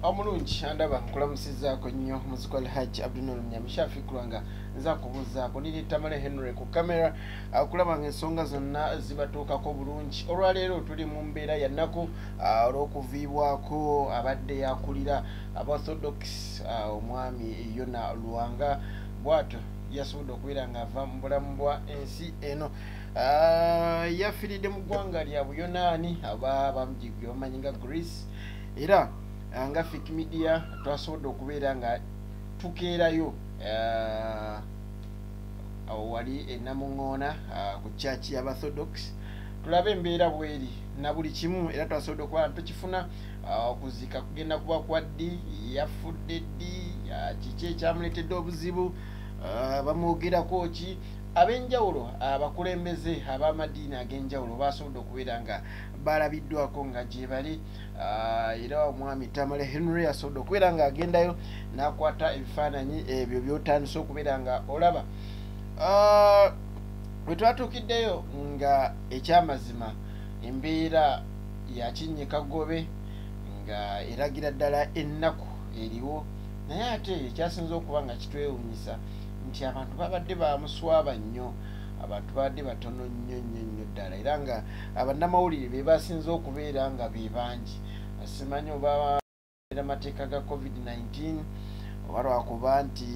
omulungi andaba nkulamusizaako nnyo muziko alhaji abdunol nyamishafi kulwanga nza kubuzaako niri tamale henry ku kamera ah, okulaba nga ensonga zonna zibatuukako bulungi olwaleero tuli mu mbeera yannaku ah, olw'okuviibwako abadde yakulira abaorthodox ah, omwami yona lwanga bwatyo yasobodde okubeera ngaava mu bulamu bwa ensi eno ah, yafiridde mu ggwanga lya buyonaani aba bamujigwe bamanyi nga greece era ah, nga fik media twasobodde okubeera nga tukeerayo ah, awo wali enamuŋoona ku church yabathodox tulabe embeera bweri na buli kimu era twasobodde okuba tukifuna Ah, okuzika kugenda kuba kwa ddi yafudde ddi ah, kiki ekyamuleetedde obuzibu ah, bamwogerako ki ab'enjawulo abakulembeze ab'amadiini ag'enjawulo baasobodde okubeera nga balabiddwako nga gyebali era omwami tamale henry asobodde okubeera nga agendayo n'akwata ebifaananyi ebyo byotandise okubeera nga olaba bwe twatuukiddeyo nga ekyamazima embeera ya kinnye kagobe nga eragira ddala ennaku eriwo naye ate ekyasinza okuba nga kitwewunyisa nti abantu babadde bamuswaba nnyo abantu babadde batono nnyo nnyo nnyo ddala era nga abannamawulire be basinze okubeera nga be bangi simanyi oba era amateeka ga covid-19 oba lwakuba nti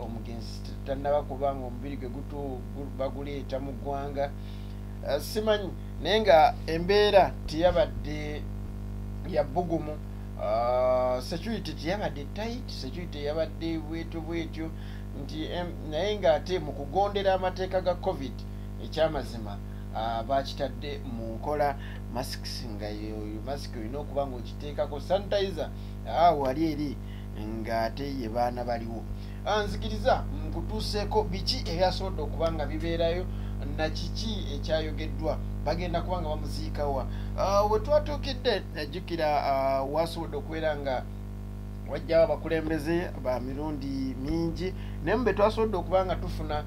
omugenzi tannaba kuba nga omubiri gwe gutu baguleeta mu ggwanga eh, simanyi naye nga embeera teyabadde yabbugumu ah, security teyabadde tit security yabadde bwetyo bwetyo nti naye nga ate mu kugondera amateeka ga covid ekyamazima ah, bakitadde mu nkola masks nga masiki olina okuba nga okiteekako sanitizer ah, wali eri ng'ate ye baana baliwo ah, nzikiriza nkutuuseeko biki ebyasobodde okuba nga bibeerayo na kiki ekyayogeddwa bagenda kuba nga bamuziikawa ah, we twatuukidde najjukira wasobodde okubeera nga wajjawo abakulembeze ba mirundi mingi naye mu be twasobodde okuba nga tufuna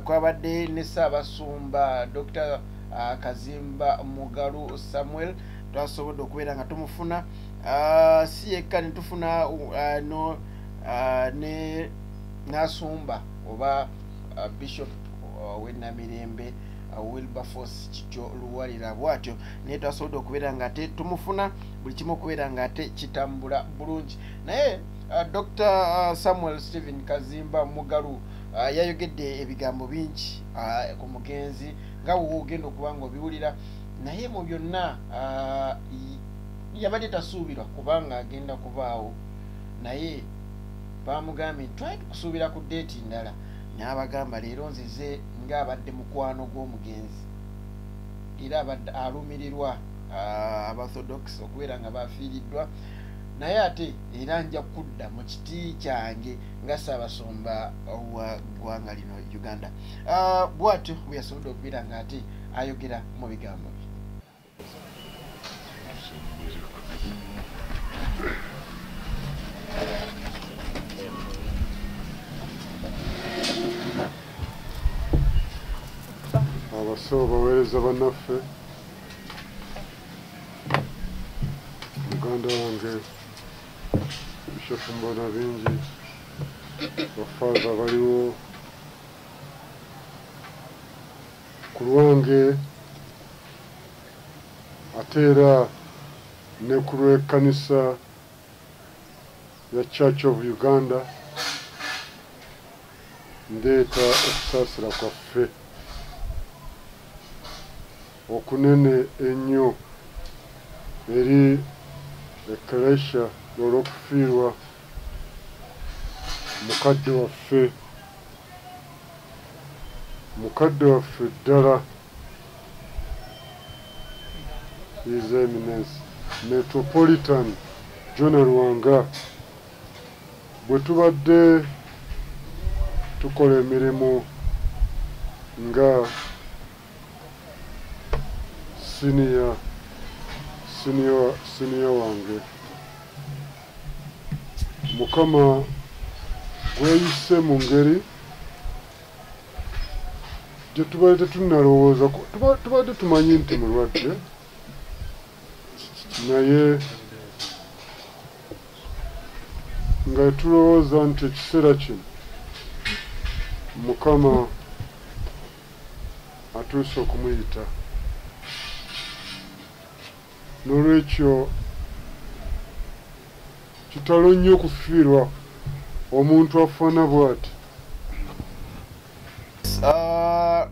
kwabadde ne ssaabasumba dr uh, kazimba mugalu samuel twasobodde okubeera nga tumufuna uh, si yekka netufuna uh, no uh, ne nasumba oba uh, bishop uh, wenamirembe uh, wilberforce kityo luwalira bwatyo naye twasobodde okubeera nga ate tumufuna buli kimu okubeera nga ate kitambula bulungi naye uh, dr uh, samuel stephen kazimba mugalu Ah, yayogedde ebigambo bingi ah, ku mugenzi nga wogenda okuba nga obiwulira naye mu byonna ah, yabadde tasuubirwa kubanga agenda kubaawo naye bamugambye twali tukusuubira ku deeti ndala n'abagamba leero nzize ng'abadde mukwano gw'omugenzi era abadde alumirirwa abathodox okubeera nga bafiiriddwa naye ate era nja kudda mu kiti kyange nga ssaabasumba wa ggwanga lino uganda ah, bwatyo bwe yasobodde okubeera nga ate ayogera mu bigambo bye abasawo baweereza banaffe muganda wange bishopu mbona bingi bafaza baliwo ku lwange ate era ne ku lw'ekkanisa ya church of uganda ndeeta okusaasira kwaffe okunene ennyo eri Ekklesia olw'okufiirwa mukadde waffe, mukadde waffe ddala, His Eminence Metropolitan Jonah Lwanga. Bwe tubadde tukola emirimu nga. siniya siniya siniya wange mukama gweyise mu ngeri gyetubadde tetunalowooza tubadde tumanyi nti mulwadde naye nga tulowooza nti ekiseera kino mukama atuuse okumuyita n'olwekyo kitalo nnyo okufiirwa omuntu afaana bw'ati ah,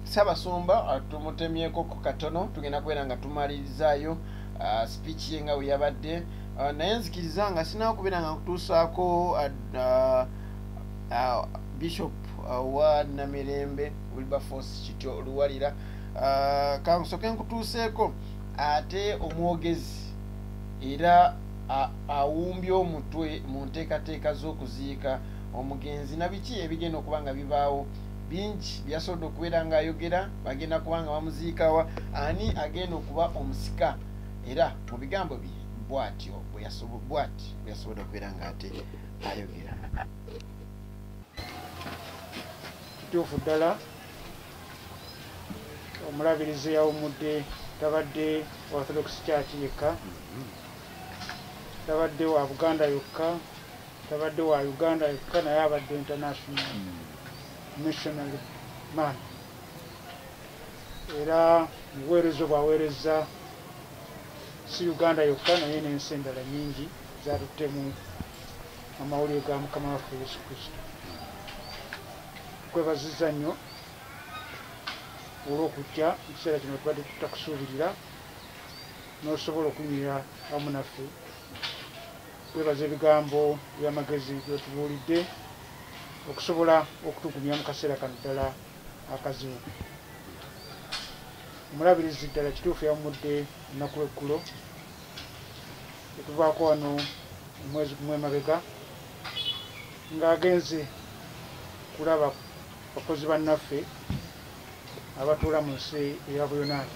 sabasumba ah, tumutemyeko ku katono tugenda kubeera nga tumalirizaayo ah, speech ye nga weyabadde naye nzikiriza nga sinawo kubeera nga nkutuusaako bishop wa namirembe wilberforce kityo luwalira ah, kansoke nkutuuseeko ate omwogezi era awumbye omutwe mu nteekateeka z'okuziika omugenzi nabiki ebigenda okuba nga bibaawo bingi byasobodde okubeera ngaayogera bagenda kuba nga bamuziikawa ani agenda okuba omusika era mu bigambo bye bwatyo bwati bweyasobodde okubeera ngaate ayogera kituufu ddala omulabirizi yawumudde tabadde orthodox church yekka tabadde wa buganda yokka tabadde wa uganda yokka naye abadde international missionary man era mubuweereza obwaweereza si uganda yokka naye n'ensi endala nyingi zatuttemu amawulire ga mukama waffe yesu kristo tukwebaziza nnyo olw'okujja mu kiseera kino tubadde tutakusuubirira n'osobola okunyira wamu naffe twebaza ebigambo by'amagezi byotubuulidde okusobola okutugumya mu kaseera kano ddala akazibu omulabirizi ddala kituufu yawumudde ennaku eggulo etuvaako wano omwezi gumu emabega ng'agenze kulaba bakozi bannaffe abatuula mu nsi eya buyonaani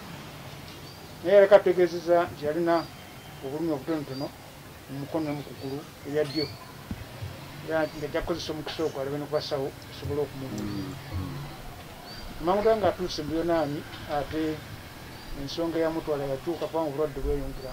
naye yaleka tutegeezeza nti yalina obulumi obutonotono mu mukono mu kugulu erya ddyo era nti ngajja kukozesa omukisa ogwo alabe ne ku basawo osobole okumubulira amanguda ng'atuuse mu buyonaani ate ensonga eyamutwala yakyuka kubanga obulwadde bweyongera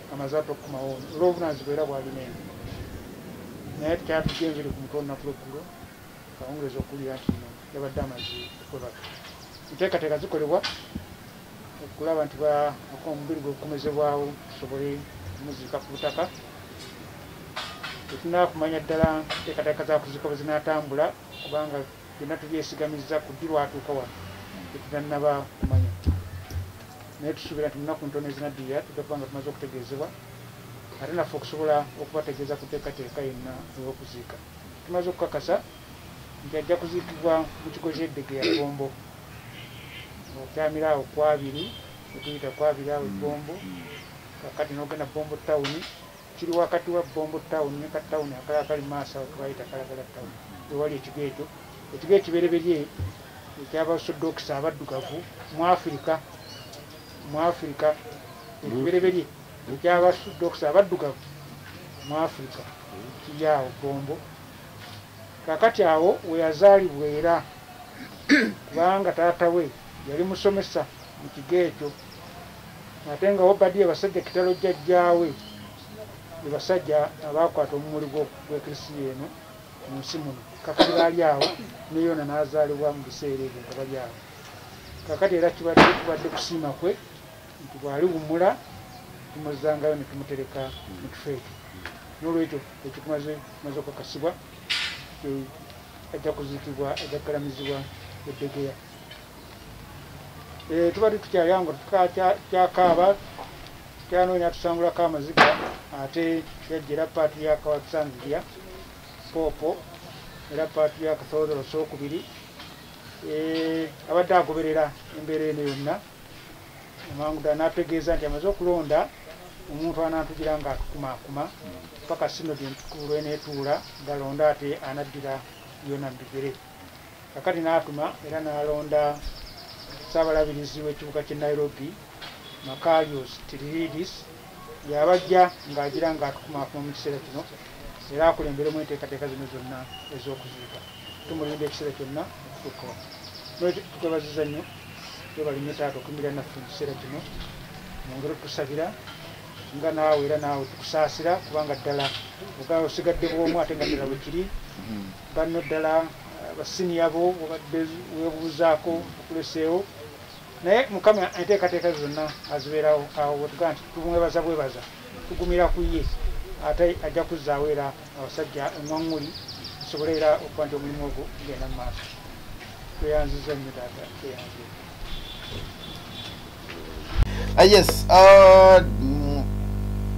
amaze adda okukomawo olw'obuvunaanyizibwa era bwalina eno naye tekyatujja enviri ku mutwe olunaku lweggulo kawungeezi okuwulira nti no yabadde amaze okwebaka enteekateeka zikolebwa okulaba nti omubiri gwe gukomezebwawo tusobole omuziika ku butaka tetunakumanya ddala enteekateeka za kuziika bwe zinaatambula kubanga byonna tubyesigamizza ku ddi lwatuuka wano tetutannaba kumanya naye tusuubira nti munaku ntono ezinaddirira tujja kuba nga tumaze okutegeezebwa ate naffe okusobola okubategeeza ku teekateeka yenna ey'okuziika tumaze okukakasa nti ajja kuziikibwa mu kigo kyeddege ya gombo okyamira awo kwabiri etuyita kwabiri awo egombo kakati nogenda bombo tawuni Kiri wakati wa Bombo Town ne ka town akalala akali mu maaso awo ke bayita Kalagala Town we wali ekigo ekyo. Ekigo ekibereberye eky'Abasodookisi Abaddugavu mu Afirika, mu Afirika, ekibereberye eky'Abasodookisi Abaddugavu mu Afirika kiri awo Bombo. Kaakati awo we yazaalibwa era kubanga taata we yali musomesa. mu kigo ekyo ate nga Obadiya basajja kitalo jjajjaawe be basajja abaakwata omumuli gw'eklisiya eno mu nsi muno kakati baali awo ne yona n'azaalibwa mu biseera ebyo nga bali awo kakati era kibadde kubadde kusiima kwe nti bwali wumula tumuzangayo ne tumutereka mu kifo ekyo n'olwekyo ekyo tumaze tumaze okukakasibwa ajja kuzikibwa ajja kukalamizibwa eddegeya Eh, tubadde tukyali ango tukyakaaba tukyanoonya tusangulako amaziga ate yajjera paatu ya kawakisanzirya poopo era paatu ya kasoozolo sookubiri eh, abadde agoberera embeera eno yonna amangu ddala n'atutegeeza nti amaze okulonda omuntu anaatugira nga atukumaakuma paka sinodi entukuulu eneetuula galonda ate anaddira yona mu bigere kakati n'atuma era n'alonda ssaabalabirizi w'ekibuga ky'e nairobi makarios tiriridis yabajja ng'agira ng'atukumaakuma mu kiseera kino era akulemberemu enteekateeka zino zonna ez'okuziika tumulinda ekiseera kyonna okutuuka wano nolwekyo tukwebaziza nnyo webali nnyo taata okuyimirira naffe mu kiseera kino mwongere otusabira nga naawe era naawe tukusaasira kubanga ddala ogaa osigadde bwomu ate nga ddala bwe kiri banno ddala basiniya bo obadde webuuzaako okuleseewo naye mukama enteekateeka ze zonna azibeerawo awo wetugaa nti tumwebaza bwebaza tugumira ku ye ate ajja kuzzaawo era abasajja eŋwaŋŋuli tusobole era okuba nti omulimu ogwo gugenda mu maaso tweyanziza nnyo taata tweyanzire Ah, yes ah, mm,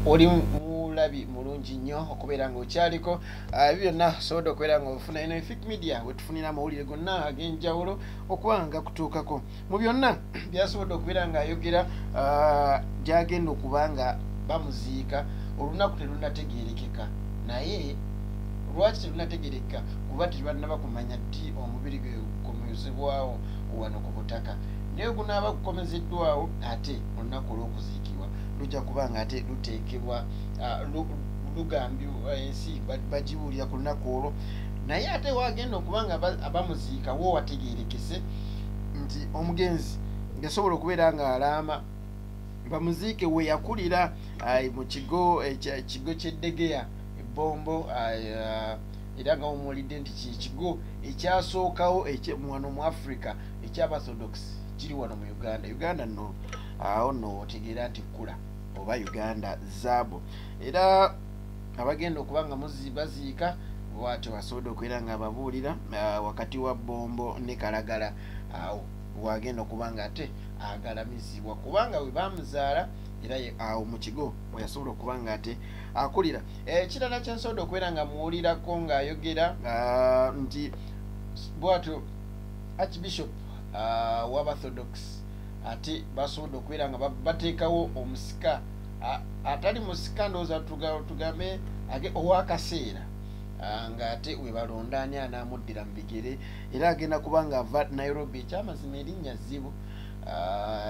oli mulabi mulungi nnyo okubeera ngaokyaliko ah, ebyo byonna osobola okubeera nga ofuna eno efik media wetufunira amawulire gonna ag'enjawulo okuba nga kutuukako mu byonna byasobodde okubeera ngaayogera gyagenda okuba nga bamuziika olunaku terunategeerekeka naye lwaki terunategerekeka kuba tebanaba kumanya ddi omubiri gwe gumuzibwawo wano ku butaka naye gunaaba gukomezeddwawo ate olunaku olw'okuziikibwa lujja kuba nga ate luteekebwa ah, lugambi eh, ensi bagibuulira ku lunaku olwo naye ate wagenda okuba nga abamuziika wo wategeerekese nti omugenzi ngasobola okubeera nga alaama bamuziike we yakulira ah, mu kigo eh, kigo ky'eddegeya ebbombo ah, era nga omuwulidde nti kyekigo ekyasookawo wano mu africa ekyabathodox kiri wano mu uganda uganda no awo no otegeera nti kkula oba uganda zaabu era abagenda okuba nga baziika bwatyo basobodde okubeera nga ababuulira ah, wakati wa bombo ne kalagala awo wagenda okuba nga ate agalamizibwa kubanga we bamuzaala era awo mu kigo mweyasobola okuba nga ate akulira ekirala kyensobodde okubeera nga muwulirako ng'ayogera ah, nti bwatyo archbishop ah, wabathodox ate basobodde okubeera nga bateekawo omusika ah, atali musika ndowooza tugambe age owakaseera ng'ate webalonda ani anaamuddira mu bigere era agenda kuba nga ava nairobi ekyamazima erinnya zzibu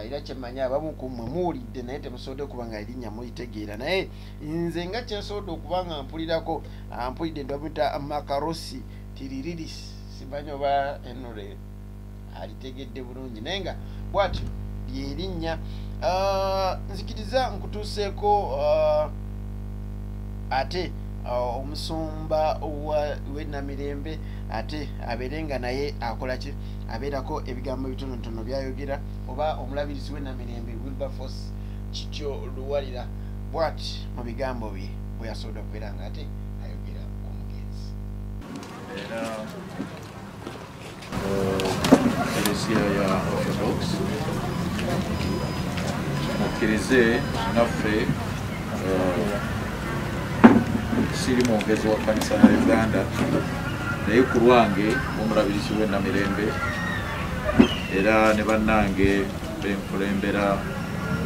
era kyemmanyi abamu ku mmwe muwulidde naye temusobodde kuba nga erinnya mulitegeera naye nze nga kyensobodde okuba nga mpulirako ampulidde ndamuyita makarosi tiriridis simanyi oba enure alitegedde bulungi naye nga bwatyo lyerinnya ah, nzikiriza nkutuuseeko ah, ate ah, omusumba wenamirembe ate abeere nga naye akolaki abeerako ebigambo bitonotono byayogera oba omulabirizi wenamirembe wilberforce kityo luwalira bwati mu bigambo bye bwe yasobola okubeera nga ate ayogera ku mugenzi era ekereziya uh, ya orthodox mukkirize naffe uh, siri mwongezi wa kanisa ya uganda naye ku lwange omulabirizi w'enamirembe era ne bannange benkulembera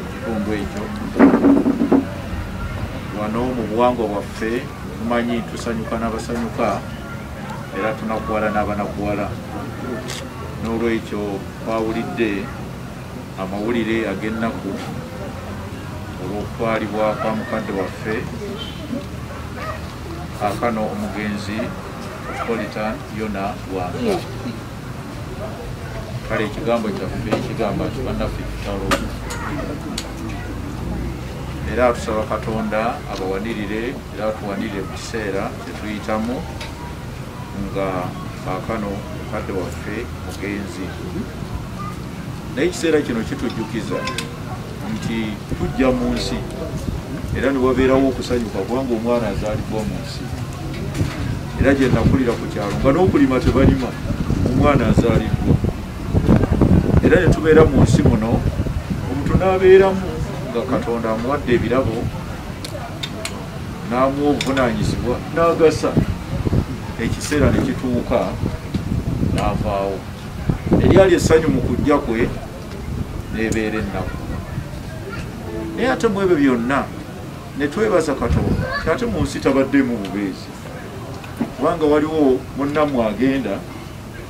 ekitundu ekyo wano mu buwangwa bwaffe tumanyi tusanyuka n'abasanyuka era tunakuwala n'abanakuwala n'olwekyo twawulidde amawulire ag'ennaku olw'okutwalibwa kwa mukadde waffe akano omugenzi politan yona wanga kale ekigambo kyaffe ekigamba nti bannaffe kitalo era atusaba katonda abawanirire era atuwanirire mu kiseera kyetuyitamu nga kaakano mukadde waffe mugenzi naye ekiseera kino kitujjukiza nti tujja mu nsi era ne wabeerawo okusanyuka kubanga omwana azaalibwa mu nsi era gye nakulira ku kyalo nga n'okulima tebalima omwana azaaliddwa era ne tubeera mu nsi muno omuntu n'abeeramu nga katonda amuwadde ebirabo n'amuwa obuvunaanyizibwa n'agasa ekiseera ne kituuka n'avaawo eryali essanyu mu kujja kwe n'ebeera ennaku naye ate mu ebyo byonna ne twebaza katonda nti ate mu nsi tabaddemu bubeezi kubanga waliwo munnammwe agenda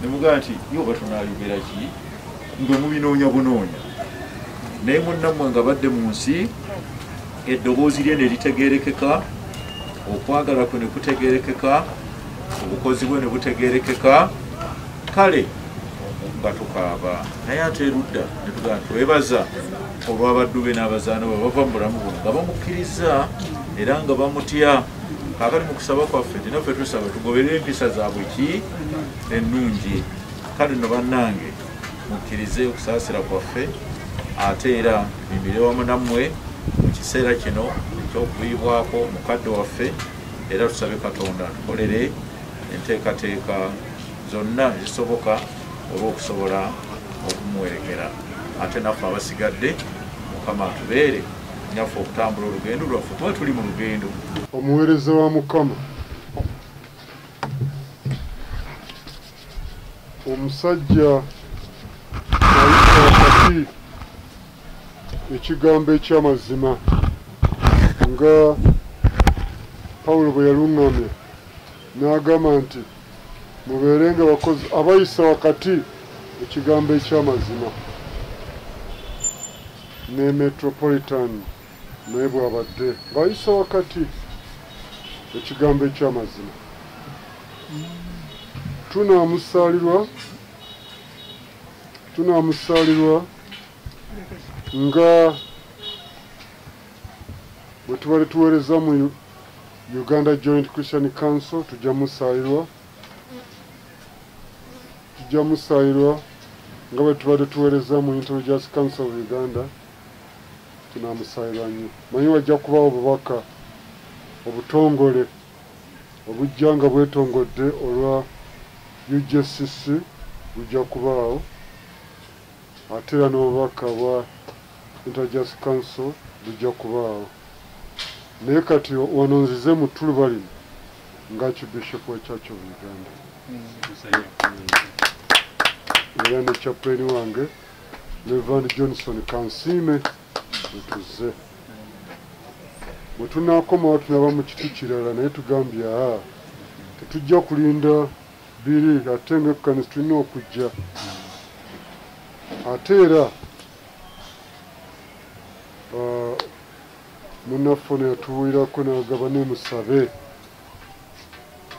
ne mugamba nti yo oba tunaayogera ki nga mubinoonya bunoonya naye munnammwe nga badde mu nsi eddoboozi lye ne litegeerekeka okwagala kwe ne kutegeerekeka obukozi bwe ne butegeerekeka kale nga tukaaba naye ate erudda ne tugamba twebaza olw'abaddu be n'abazaana bwe bava mu bulamu buno nga bamukkirizza era nga bamutya kakati mu kusaba kwaffe tinaffe tusaba tugoberera empisa zaabwe ki ennungi kale no bannange mukkirize okusaasira kwaffe ate era mimire wamu nammwe mu kiseera kino eky'okuvuyibwako mukadde waffe era tusabe katonda tukolere enteekateeka zonna ezisoboka olw'okusobola okumuwerekera ate naffe abasigadde mukama atubeere nyaffe okutambula olugendo lwaffe kuba tuli mu lugendo omuweereza wa mukama omusajja wakati ekigambo ekyamazima nga pawulo bwe yaluŋŋamya N'agamba nti, Mubeerenga bakozi abayisa wakati mu kigambo eky'amazima. Ne Metropolitan naye bw'abadde ng'ayisa wakati mu kigambo eky'amazima. Tunaamusaalirwa, tunaamusaalirwa nga bwe tubadde tuweereza mu Uganda Joint Christian Council tujja musaayirwa tujja musaayirwa nga bwe tubadde tuweereza mu Intelligence Council of Uganda tunaamusaayirwa nnyo manyi wajja kubawo obubaka obutongole obujja nga bwetongodde olwa UJCC bujja kubaawo Ate era n'obubaka bwa Interjust Council bujja kubaawo. Naye kati wano nzize mu ttuluba lino nga Archbishop wa Church of Uganda. Era ne chaplain wange Reverend Johnson Kansiime wetuze. Bwe tunaakomawo tunaba mu kiti kirala naye tugambye aa tetujja kulinda biri ate nga ekkanisa tulina okujja ate era uh, munaffe ono yatubuulirako nagaba nemusabe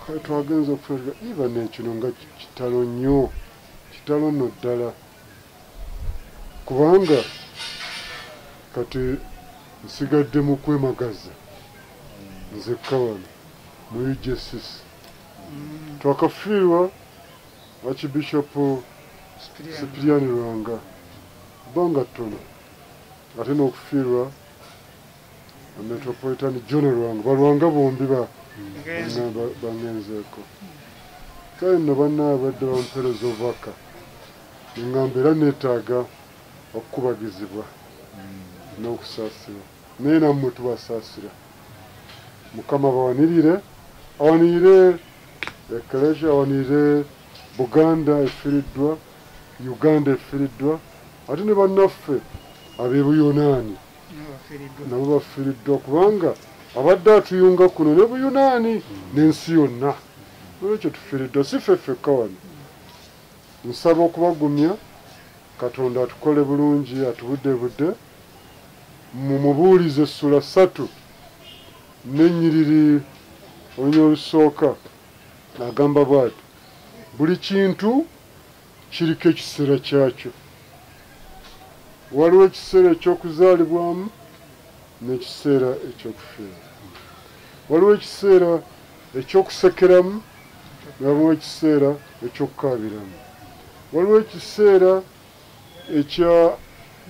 kale twagenza okufuna iba nekino nga kitalo nnyo kitalo nno ddala kubanga kati nsigadde mu kwemagaza nzekka wano mu ugss twakafiirwa akibishopu sipiriyani lwanga bbanga ttono ate n'okufiirwa metropolitan john lwanga balwanga bombi bangenzeeko kale nno banna abadde bampeereza obubaka neŋŋamba era neetaaga okukubagizibwa n'okusaasirwa naye nammwe tubasaasira mukama bawanirire awanirire eklesia awanirire buganda efiriddwa uganda efiriddwa ate ne bannaffe abebuyonaani nabo bafiriddwa kubanga abadde atuyunga kuno ne buyonaani n'ensi yonna olwekyo tufiriddwa si ffe ffekka wano nsaba okubagumya katonda atukole bulungi atubudde budde mu Mubuulizi essula ssatu n'ennyiriri olunyiriri olusooka agamba bw'ati, Buli kintu kiriko ekiseera kyakyo. Waliwo ekiseera eky'okuzaalibwamu n'ekiseera eky'okufiiramu. Waliwo ekiseera eky'okusekeramu ne wabawo ekiseera eky'okukaabiramu. Waliwo ekiseera Ekya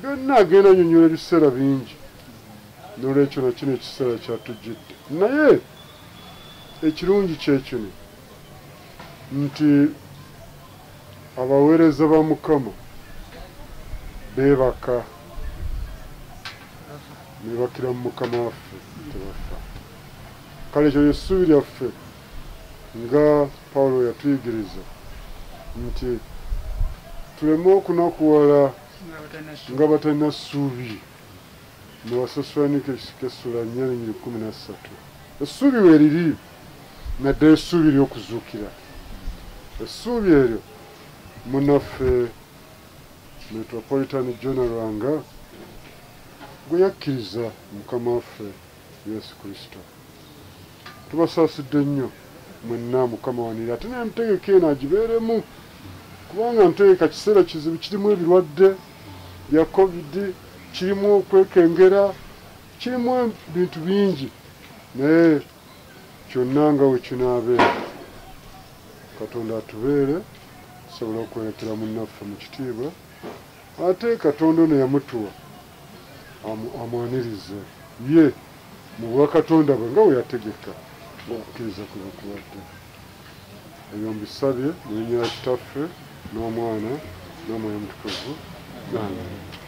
byonna agenda anyonyola ebiseera bingi nolwekyo nakino ekiseera kyatujjidde naye ekirungi kyekino nti abaweereza ba mukama beebaka nebakira mu mukama waffe tebafa kale ekyo lyessuubi lyaffe Nga Pawulo bwe yatuyigiriza nti tuleme okunakuwala nga batalina ssuubi mu Basesulaniki ekisika essula nnya n'ennyiri kkumi na ssatu. Essuubi weeriri naddala essuubi ery'okuzuukira, essuubi eryo munnaffe Metropolitan Jonah Lwanga gwe yakkiriza Mukama waffe. Yesu Kristo. Tubasaasidde nnyo mwenna Mukama wanira ate n'entegeka eno agibeeremu kubanga ntegeka kiseera kizibu kirimu ebirwadde bya covid kirimu okwekengera kirimu ebintu bingi naye kyonna nga we kinaabeera katonda atubeere tusobola okwolekera munnaffe mu kitiibwa Ate Katonda ono yamutuwa amu, amwanirize Ye mu bwakatonda bwe nga bwe yategeka ng'okukkiriza kwe bwe kubadde. Ebyo mbisabye mu linnya lya Kitaffe n'Omwana n'Omwoyo Omutukuvu. Amiina.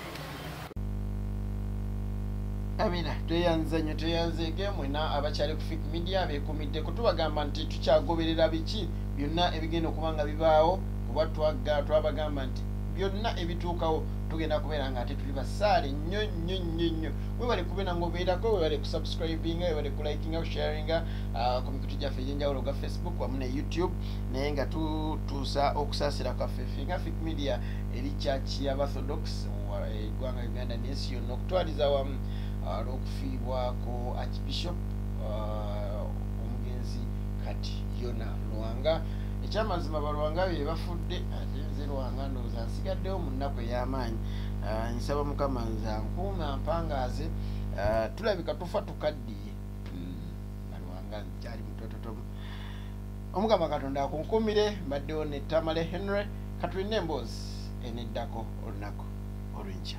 Amina tweyanziza nnyo tweyanzeege mwena abakyali ku fik media bekumidde kutubagamba nti tukyagoberera biki byonna ebigenda okuba nga bibaawo kuba twagga twabagamba nti byonna ebituukawo tugenda kubeera nga ate tuli basaale nnyo nnyo nnyo nnyo webale kubeera nga obeerako webale kusubscribinga webale kulikinga kusharinga ah, ku mikutu gyaffe egyenjawulo gwa facebook wamu ne youtube naye nga tutuusa okusaasira kwaffe finga fik media eri church ya bathodox eggwanga eh, uganda nensi yonna okutwaliza wamu ah, lwokufiibwako archbishop ah, omugenzi kati yona lwanga ekyamazima balwanga bye bafudde nzirwanga ndowooza nsigaddewo mu nnaku ey'amaanyi ah, nsaba mukama nza nkuuma mpangaaze ah, tulabika tufa tukaddiye hmm, nalwanga nkyali mutototomu omukama katonda akunkuumire mbaddewo ne tamale henry katulina emboozi eneddako olunaku olwenkya